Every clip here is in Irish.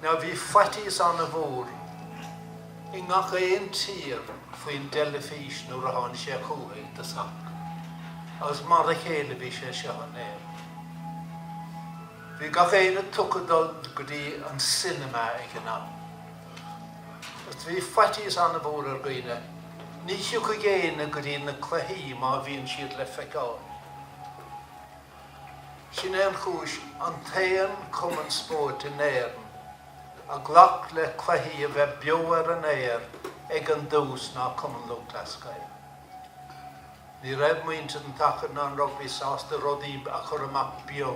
Now bhí faitíos ana-mhór i ngach aon tír faoin dteilifís nuair a tháinig sé chun tosaigh, agus mar a chéile bhí sé seo in Éirinn. Bhí gach éinne tugtha dul go dtí an cinema ag an am, agus bhí faitíos ana-mhór ar dhaoine, ní thiocfaidh éinne go dtí na cluichí má bhíonn siad le feiceáil. Sin é an chúis, an t-aon cumann spóirt in Éirinn a ghlac le cluichí a bheith beo ar an aer ag an dtús ná Cumann Lúthchleas Gael. Ní raibh muintir an tsacair ná an rugbaí sásta rudaí a chur amach beo.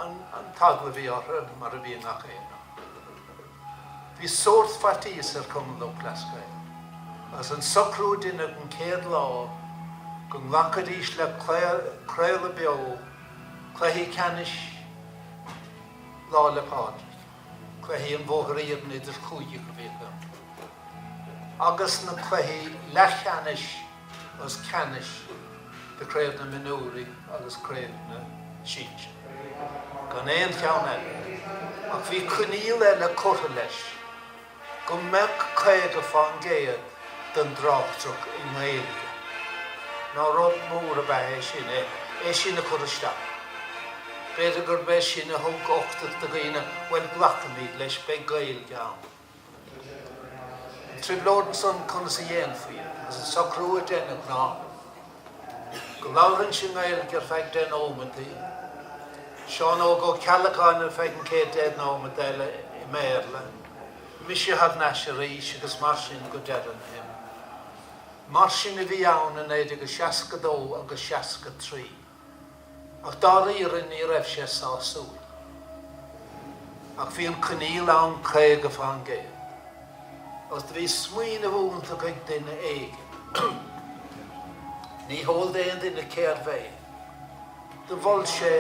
An t-eagla a bhí orthu, mar a bhí i ngach aon áit. Bhí sórt faitíos ar Chumann Lúthchleas Gael agus an socrú a deineadh an chéad lá go nglacfaidís le craoladh beo cluichí ceannais Lá 'le Pádraig, cluichí an Bhóthair Iarainn idir chúigí a bhí agus na cluichí leathcheannais. agus ceannais de Craobh na Mionúirí agus Craobh na Sinsear gan aon cheann eile, ach bhí coinníoll eile curtha leis, go mbeadh caoga fán gcéad den dtráchtaireacht i nGaeilge, now rud mór ab ea é sin, é sin a chur isteach. B'fhéidir gurb é sin a thug uchtach do dhaoine, bhuel, glacfaimid leis, beidh Gaeilge ann. trioblóid ansan conas a dhéanfaí é agus an socrú a deineadh ná go labharfainnse i nGaeilge ar feadh deich nóimintí, Seán Óg Ó Ceallacháin ar feadh an céad deich nóimead eile i mBéarla, mise thar n-ais arís agus mar sin go deireadh na himeartha. Mar sin a bhí ann i 1962 agus 63. ach dáiríre ní raibh sé sásúil. Ach bhí an coinníoll ann caoga fán gcéad agus do bhí smaoineamh iontach ag duine éigin, ní heol d'aon duine cérbh é, do mhol sé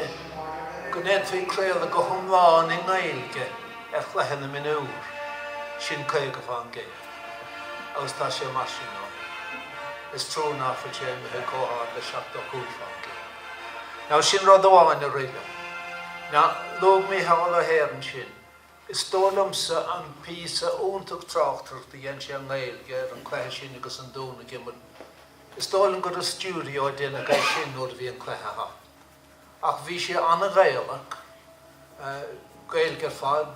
go ndéanfaí craoladh go hiomlán i nGaeilge ar chluiche na mionúr, sin caoga fán gcéad. agus tá sé mar sin ann. Is trua nach bhfuil sé imithe comh hard le seachtó cúig fán gcéad. Now sin rud amháin a rith liom. Now, luaigh Micheál Ó hEithir ansin. Is dóigh liomsa an píosa iontach tráchtaireachta a dhein sé i nGaeilge ar an cluiche sin agus an Dún ag imirt. Is dóigh liom gur i stiúideo a deineadh é sin nuair a bhí an cluiche thart. Ach bhí sé an-Ghaelach, Gaeilg ar fad,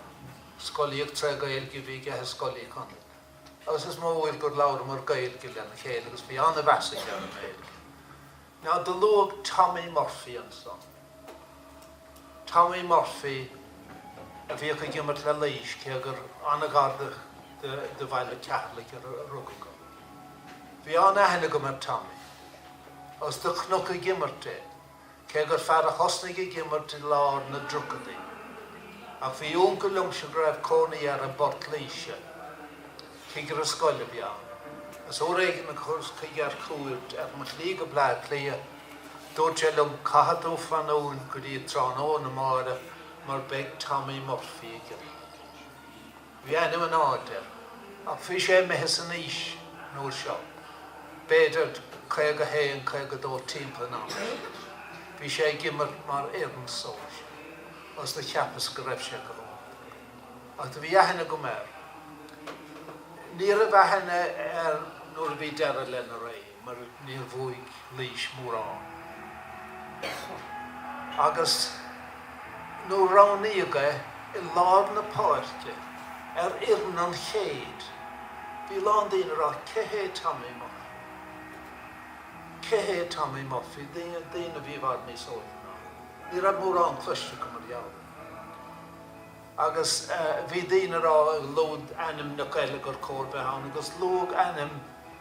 scolaíocht tré Gaeilg a bhí aige i Scoil Uí Chonaill. Agus is mó uair gur labhramar Gaeilg lena chéile agus bhí an-mheas aige ar an nGaeilg. Ná do luadh Tommy Murphy ansan. Tommy Murphy a bhíodh ag imirt le Laois cé gur an-ghar do Bhaile Cheatharlach a rugadh é. Bhí an-aithne agam ar Tommy. Is do chonac ag imirt é, cé gur fear a thosnaigh ag imirt i lár na dtríochaidí. Ach bhí úncail liomsa go raibh cónaí air i bPort Laoise. Cigire scoile a bhí ann. Is uair éigin a chuas chuige ar chuairt ar mo shlí go Bleá Cliath, dúirt sé liom caithfidh tú fanúint go dtí tráthnóna amáireach mar beidh Tommy Murphy ag imirt. Bhí ainm in airde air, ach bhí sé imithe san aois an uair seo, b'fhéidir 51, 52 timpeall an ama sin. Bhí sé ag imirt mar fhoireann sóisir, agus do cheapas go raibh sé go holc. Ach do bhí aithne agam air. Ní raibh aithne air nuair a bhí deireadh lena ré. mar níor bhuaigh Laois mórán agus nuair a roghnaíodh é i lár na páirce ar fhoireann an chéid. Bhí a lán daoine ag rá cé hé Tommy Murphy? Cé hé Tommy Murphy? Daoine, daoine a bhí i bhfad níos óige ná mé. Ní raibh mórán cloiste acu mar gheall air. Agus bhí daoine ag rá luadh ainmneacha eile gur chóir bheith ann agus luadh ainm,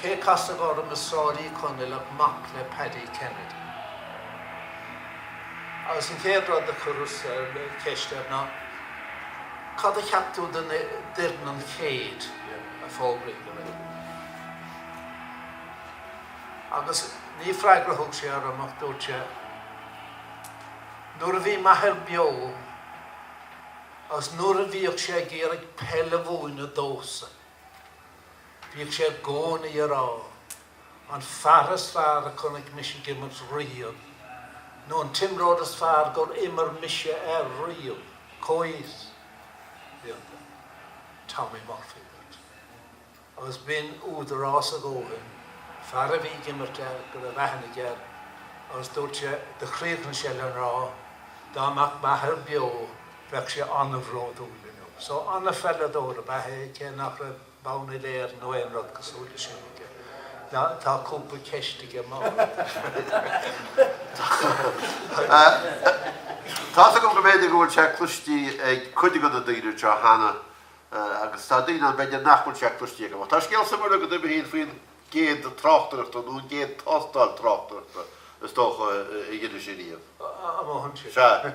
Cé casadh orm i Sráid Uí Chonaill ach mac le Paddy Kennedy. Agus an chéad rud a chuireas ceist air ná, Cad a cheap tú den fhoireann an chéid a fógraíodh aréir? Agus ní freagra a thug sé orm ach dúirt sé, Nuair a bhí m'athair beo agus nuair a bhíodh sé ag iarraidh peil a mhúineadh domhsa. Bhíodh sé i gcónaí ag rá, An fear is fearr a chonaic mise ag imirt riamh, nó an t-imreoir is fearr gur imir mise air riamh, comhfhios, bhí iontu, Tommy Murphy duit. Agus b'in údarás a dhóthain, fear a bhí ag imirt air, go raibh aithne aige air, agus dúirt sé, chríochnaigh sé le rá, Dá mbeadh m'athair beo, bheadh sé an-bhródúil inniu. So, an-pheileadóir ab ea é, cé nach raibh bonn uile Éireann nó aon rud cosúil le sin aige. Tá, tá cúpla ceist agam id thaobh. Tá's agam go mb'fhéidir go bhfuil sé cloistí ag cuid de na daoine anseo cheana agus tá daoine ann b'fhéidir nach bhfuil sé cloistí acu. Tá scéal suimiúil agat uimhir a haon faoin gcéad tráchtaireacht nó an gcéad tástáil tráchtaireachta is dócha a dheinis ariamh. A mothaím sin. Sea.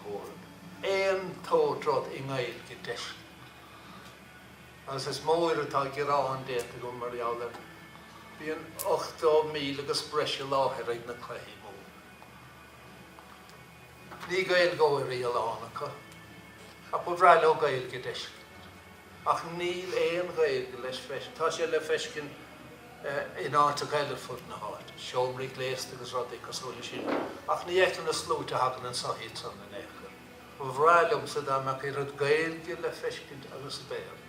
Mhóraimh. An t-aon rud i nGaeilge d'fheiscint. Agus is mór atá gearán déanta agam mar gheall air. Bíonn 80,000 agus breis i láthair ag na cluichí móra. Ní Gaeilgeoirí a lán acu, ach ba bhreá leo Gaeilge d'fheiscint. Ach níl aon Ghaeilge le feiscint. Tá sé le feiscint in áiteacha eile ar fud na háite, seomraí gléasta agus rudaí cosúil le sin, ach ní fheiceann na sluaite a thagann anso iad san in aon chor. Ba bhreá liomsa dá mbeadh oiread Gaeilge le feiscint agus Béarla.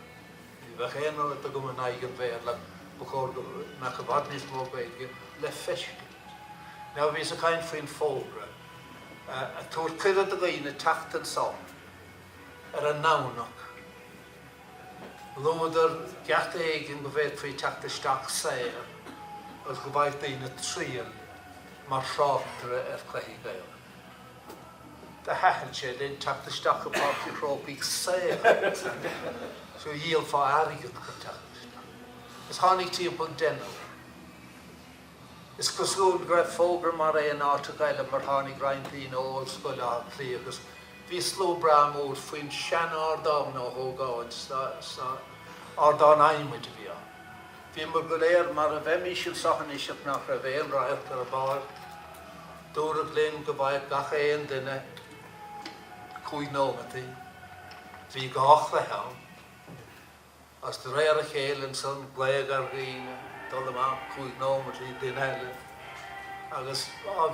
Ní bheadh aon rud agam in aghaidh an Bhéarla ach ba chóir go mbeadh i bhfad níos mó Gaeilge le feiscint. Now bhíos ag caint faoin bhfógra ag tabhairt cuireadh do dhaoine teacht anso ar an nDomhnach. Luadar geata éigin go bhféadfaí teacht isteach saor agus go bhfaigheadh daoine triail mar thráchtaire ar chluichí Gaelacha. Do thaitin sé linn teacht isteach go Páirc an Chrócaigh saor seachas díol airgead chun teacht isteach. Agus tháinig timpeall deichniúr. Is cosúil go raibh fógra mar é in áiteacha eile mar tháinig roinnt daoine ó Ollscoil Átha Cliath agus bhí slua breá mór faoin sean-ardán Uí Ógáin sin ardán adhmaid a bhí ann. Bhíomar go léir mar a bheimís anseo anois ach nach raibh aon radharc ar an bpáirc. Dúradh linn go bhfaigheadh gach aon duine cúig nóimeataí. Bhí dhá chluiche ann. Is de réir a chéile ansan glaodh ar dhaoine dul amach cúig nóimeat duine eile agus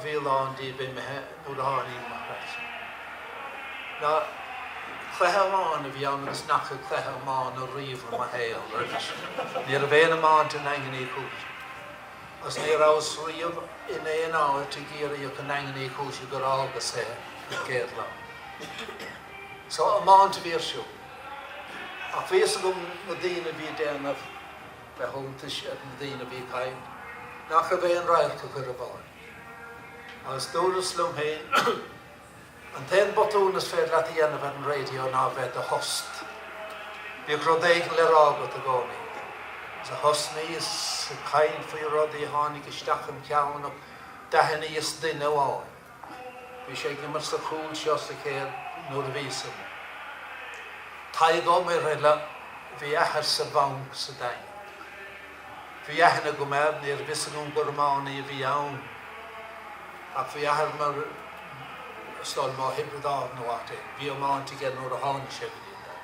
bhí a lán díobh imithe nuair a tháinig mo thuras-sa. Now cluiche iomána a bhí ann agus ní fhaca cluiche iomána riamh i mo shaol roimhe sin. Ní raibh aon iomáint i nDaingean Uí Chúise agus ní rabhas riamh in aon áit i gCiarraí ach i nDaingean Uí Chúise gur fhágas é an chéad lá. So iomáint a bhí ar siúl. Ach bhí a fhios agam na daoine a bhí ag déanamh breithiúntais ar na daoine a bhí ag caint nach raibh aon radharc acu ar an bpáirc. Agus dúras liom féin An t-aon botún is féidir leat a dhéanamh ar an raidio ná bheith id thost. Bíodh rud éigin le rá agat i gcónaí. Sea, thosnaíos ag caint faoi rudaí a tháinig isteach im cheann ach d'aithníos duine amháin. Bhí sé ag imirt sa chúl seo sa chéad uair a bhí san. Tadhg Ó Muirthile, bhí a athair sa bhanc sa Daingean. Bhí aithne agam air, ní raibh fhios agam gur iománaí a bhí ann ach bhí a athair mar is dóigh liom ó Thiobraid Árann nó áit éigin. Bhí iomáint aige nuair a tháinig sé go dtí an Daingean.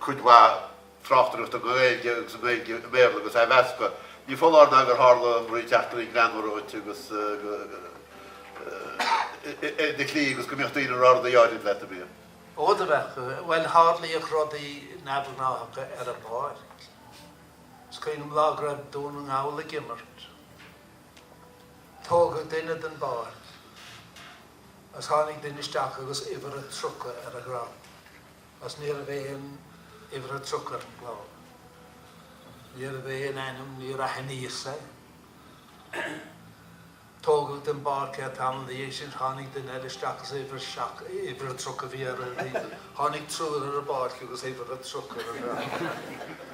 cuid mhaith tráchtaireachta as Gaeilge agus i nGaeilge i mBéarla go sainmheasctha. Ní foláir ná gur tharla eachtraí greannmhara dhuit agus ar do shlí agus go mbíodh daoine ag rá rudaí áirithe leat a bhí. Ó do bheadh, bhuel tharlaíodh rudaí neamhghnáthacha ar an bpáirc. Is cuimhin liom lá go raibh Dún na nGall ag imirt. Tógadh duine den bpáirc agus tháinig duine isteach agus uimhir a 30 ar a dhroim. is ní raibh aon uimhir a tríocha ar an gclár. Ní raibh aon ainm níor aithníos é. Tógadh den bpáirc é tamall ina dhiaidh sin, tháinig duine eile isteach is uimhir seacht, uimhir a tríocha bhí ar an, tháinig triúr ar an bpáirc agus uimhir a tríocha ar an.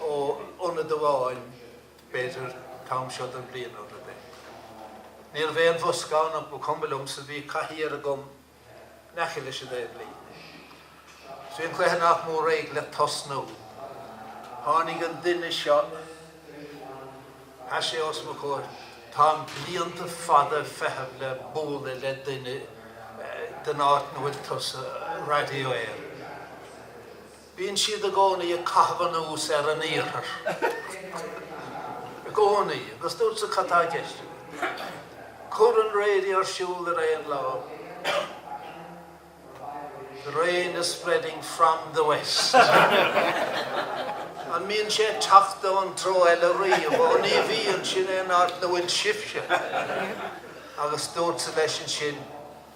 Ó ionad amháin b'fhéidir an t-am seo den bhliain nó rud eile. Ní raibh aon bhosca ann ach ba chuma liomsa, bhí cathaoir agam in aice leis an dtaobh líne. Is bhí an cluiche nach mór réidh le tosnú. Tháinig an duine seo, sheas sé os mo chomhair, táim blianta fada ag feitheamh le bualadh le duine ón áit ina bhfuil tusa, Radio Éireann. Bíonn siad i gcónaí ag caitheamh anuas ar an iarthar. I gcónaí. Agus dúrtsa cad tá i gceist agat. Cuir an raidió ar siúl ar aon lá. The rain is spreading from the west. An mbíonn sé ag teacht ón treo eile riamh? Ó ní bhíonn, sin é an áit ina bhfuil sibhse. Agus dúrtsa leis ansin,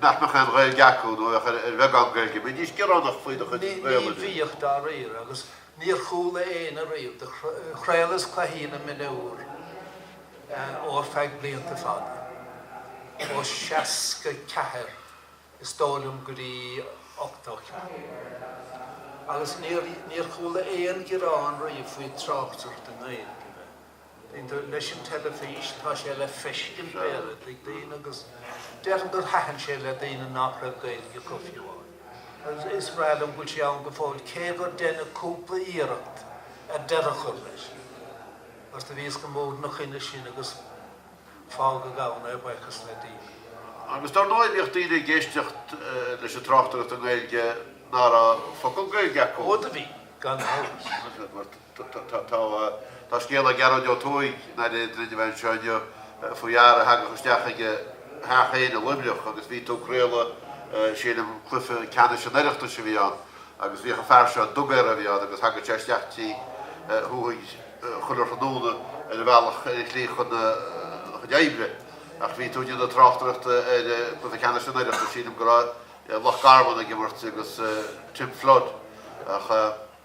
nach mbeadh aon Ghaeilge acu nó a bheadh ar bheagán Gaeilge. An mbídís ag gearán faoi do chuid Gaelainne. Ní bhíodh, dáiríre, agus níor chuala éinne riamh é. Chraolas cluichí na mionúr ó ar feadh blianta fada, ó seasca ceathair is dóigh liom go dtí ochtó ceathair, agus níor chuala aon ghearán riamh faoi tráchtaireacht i nGaeilge. Leis an teilifís tá sé le feiscint b'fhéidir ag daoine agus déarfainn gur thaitin sé le daoine nach raibh Gaeilge acu fiú amháin. Is breá liom go bhfuil sé ann go fóill cé gur deineadh cúpla iarracht ar deireadh a chur leis mar do bhíos go mór ina choinne sin agus fágadh ann é buíochas le Dia. Agus dar ndóigh bhíodh daoine ag éisteacht leis an tráchtaireacht i nGaeilge nach raibh focal Gaeilge acu. Ó do bhí, gan amhras. Tá scéal ag Gearóid Ó Tuathaigh ag inseacht dúinn anseo inniu faoi fhear a thagadh isteach ag a theach féin i Luimneach agus bhí tú ag craoladh sílim cluiche ceannais an Oireachtais a bhí ann agus bhíodh an fear seo, dugaire a bhí ann agus thagadh sé isteach tigh Thuathaigh chuile thráthnóna ar a bhealach ar a shlí chun a chuid oibre ach bhí tú ag déanamh tráchtaireachta ar cluiche ceannais an Oireachtais sílim go raibh Loch Garman ag imirt agus Tim Flood ach.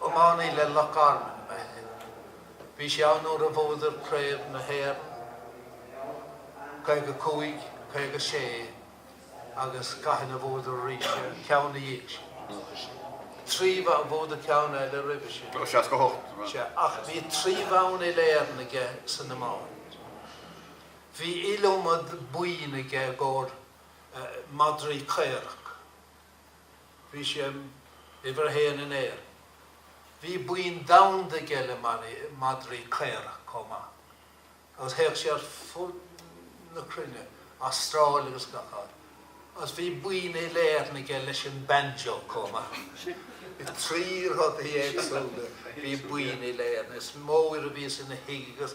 Iománaí le Loch Garman ba ea é. Bhí sé ann nuair a bhuadar Craobh na hÉireann i 55, 56 agus cathain a bhuadar arís an ceann ina dhiaidh sin? Nócha sé. Tríbh a bhuadar ceann eile roimhe sin. Ó, seasca hocht. Sea, ach bhí trí bhonn uileÉireann aige san iomáint. Bhí iliomad boinn aige i gcomhair madraí caorach. Bhí sé uimhir a haon in Éirinn. Bhí boinn domhanda aige le madraí caorach comh maith, agus théadh sé ar fud na cruinne, Astráil agus gach áit, agus bhí boinn uileÉireann aige leis an banjo comh maith. Trí rudaí éagsúla a bhí boinn uileÉireann. Is mó uair a bhíos ina thigh agus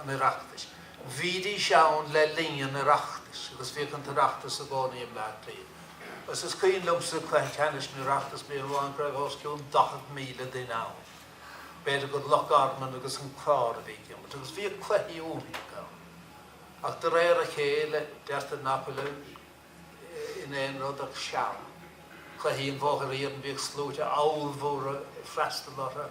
an Oireachtais. Bhídís ann le linn an Oireachtais agus bhíodh an tOireachtas i gcónaí i mBleá Cliath. Agus is cuimhin liomsa cluiche ceannais an Oireachtais bliain amháin go raibh os cionn 40,000 duine ann. B'fhéidir gur Loch Garman agus an Clár a bhí ag imirt agus bhíodh cluichí iontacha ann. Ach de réir a chéile deirtear nach bhfuil in aon rud ach seal. Cluichí an Bhóthair Iarainn bhíodh sluaite abhalmhóra ag freastal orthu.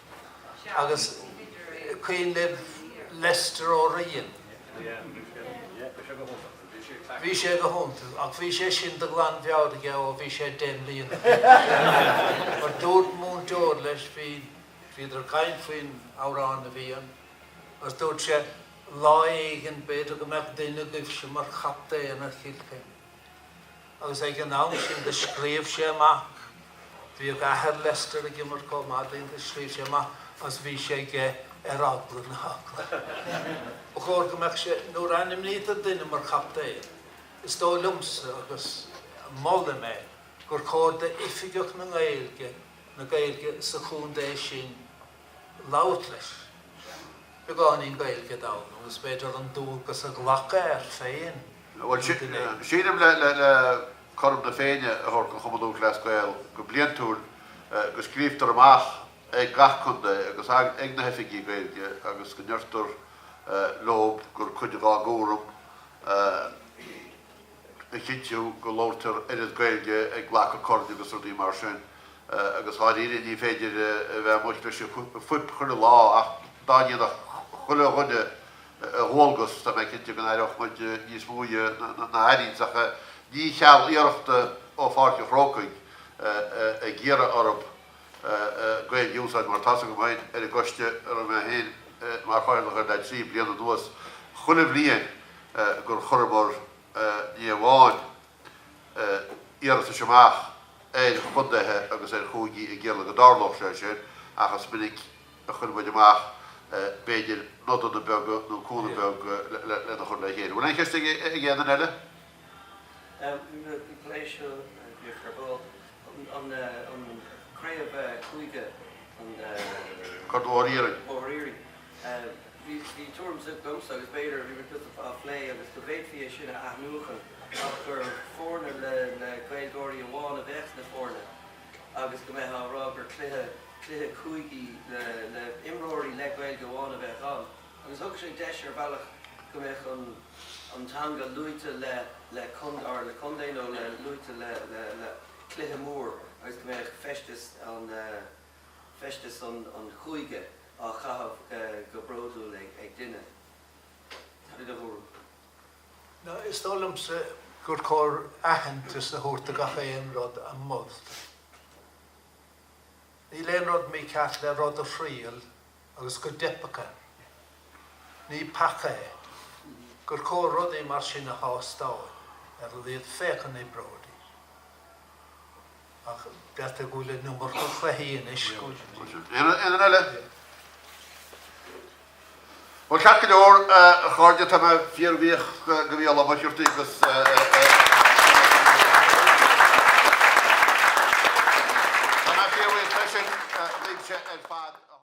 agus cuimhin libh Lester Ó Riain. Bhí sé go hiontach, ach bhí sé sin de ghlanmheabhair aige ó bhí sé deich mbliana d'aois. Mar dúirt múinteoir leis, bhíodar ag caint faoin amhrán a bhí ann, agus dúirt sé, Lá éigin b'fhéidir go mbeadh duine agaibhse mar chaptaen ar Chill Chainnigh. agus ag an am sin do scríobh sé amach, bhíodh athair Lester ag imirt comh maith tráth, do scríobh sé amach agus bhí sé aige ar eagla na heagla. Ach ba chóir go mbeadh sé, nuair a ainmnítear duine mar chaptaen, is dóigh liomsa agus molaim é, gur chóir d'Oifigeach na nGaeilge, na Gaeilge sa chontae sin, labhairt leis. Beagáinín Gaeilge Domhnall, is féidir an dualgas a ghlacadh air féin an ghné. Sílim le cúram na Féinne a thabhairt don Chumann Lúthchleas Gael go bliaintiúil go scríobhtar amach ag gach contae agus ag na hoifigigh Gaeilge agus go ndeirtear leo gur cuid dhá gcúram a chinntiú go labhraítear oiread Gaeilge ag glacadh coirn agus rudaí mar sin agus dháiríre ní féidir a bheith amuigh leis an bhfuip chuile lá ach dá ndéanfadh chuile dhuine a dhualgas tá mé cinnte go n-aireodh muid níos mó na ach ach ní cheal iarrachta ó Pháirc an Chrócaigh ag iarraidh orthu Gaeilge a úsáid mar tá's agam féin ar an gcoiste a raibh mé féin mar chathaoirleach air le trí bliana anuas chuile bhliain gur chuireamar ní amháin iarratais amach ar chontaethe agus ar chúigí ag iarraidh go dtarlódh sé sin ach is minic a chuir muid amach b'fhéidir nodanna beaga nó cúnamh beag lena chur le chéile. Bhfuil aon cheist ag aon duine eile? An plé seo bhíodh ar ball an Chraobh Chúige, an Corn Mhór Iarainn. Bhí tuairim de chuid agamsa agus b'fhéidir a bhí muid tuillte fá phlé agus go bhféadfaí é sin a athnuachan ach gur foirne le Gaeilgeoirí amháin a bheadh sna foirne agus go mbeadh á rá gur cluiche cúigí le imreoirí le Gaeilge amháin a bheadh ann. agus thug sé deis ar bhealach go mbeadh an teanga luaite le contae nó luaite le cluiche mór agus go mbeadh feisteas an chúige á chaitheamh go bródúil ag duine de do thuairim? Is dóigh liomsa gur chóir aitheantas a thabhairt do gach aon rud a moltar. Níl aon rud mícheart le rud a thriail agus go dteipfeadh air. Ní peaca é gur chóir rudaí mar sin a thástáil ar an iad féachana Brody ach b'fhéidir go bhfuil an iomarca cluichí anois go bhfuil Aon rud eile? Bhuel, ceart go leor, a chairde, tá mé fíorbhuíoch go bhí a lán maisiúrtaí agus